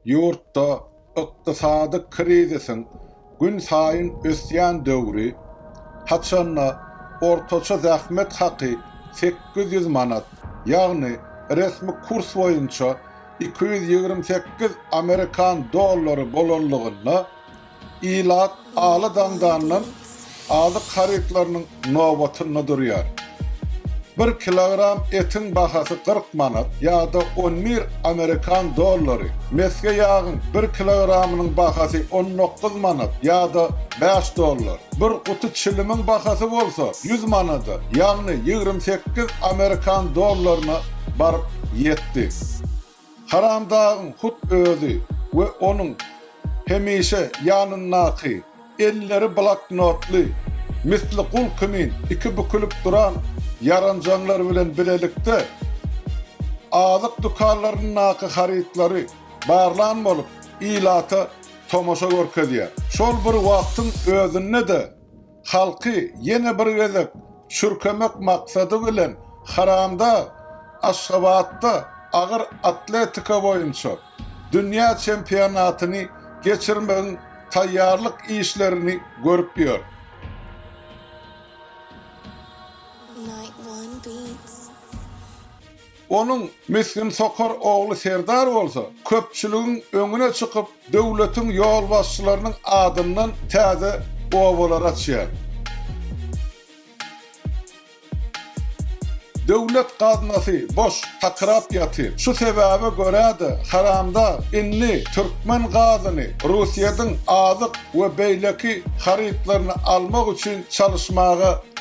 Ýurtda ykdysady krizisiň günsaýyn ösýän döwri, haçanda ortaça zähmet haky sekiz ýüz manat, ýagny resmi kurs boýunça iki ýüz ýigrimi sekiz amerikan dollary bolanlygynda, Ilat aly daňdandan azyk harytlarynyň nobatynda durýar. Bir kilogram etiň bahasy kyrk manat ýa-da on bir amerikan dollary, mesge ýagyň bir kilogramynyň bahasy on dokuz manat ýa-da bäş dollar, bir guty çilimiň bahasy bolsa ýüz manada, ýagny ýigrimi sekiz amerikan dollaryna baryp ýetdi. Haramdagyň hut özi we onuň hemişe ýanyndaky, elleri bloknotly, misli gul kimin iki bükülip duran ýaranjaňlar bilen bilelikde azyk dükanlaryndaky harytlary barlan bolup, ilata tomaşa görkezýär. Şol bir wagtyň özünde-de Halky ýene bir gezek çürkemek maksady bilen Haramdag Aşgabatda agyr atletika boýunça dünýä çempionatyny geçirmegiň taýýarlyk işlerini görüp ýör. Onuň misgin sokar ogly Serdar bolsa, köpçüligiň öňüne çykyp, döwletiň ýolbaşçylarynyň adyndan täze obalar açýar. Döwlet gaznasy boş, takyrap ýatyr. Şu sebäbe görä-de, haramdag indi türkmen gazyny Russiýadyň azyk we beýleki harytlaryny almak üçin çalyşmaga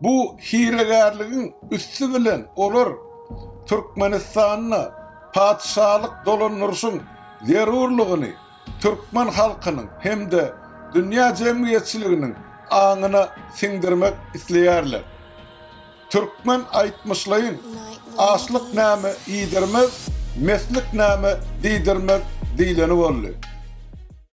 Bu hilegärligiň üsti bilen olar Türkmenistanda patyşalyk dolandyryşyň zerurlygyny türkmen halkynyň hem-de dünýä jemgyýetçiliginiň aňyna siňdirmek isleýärler. Türkmen aýtmyşlaýyn, Açlyk näme iýdirmez, meslik näme diýdirmez diýleni boldy.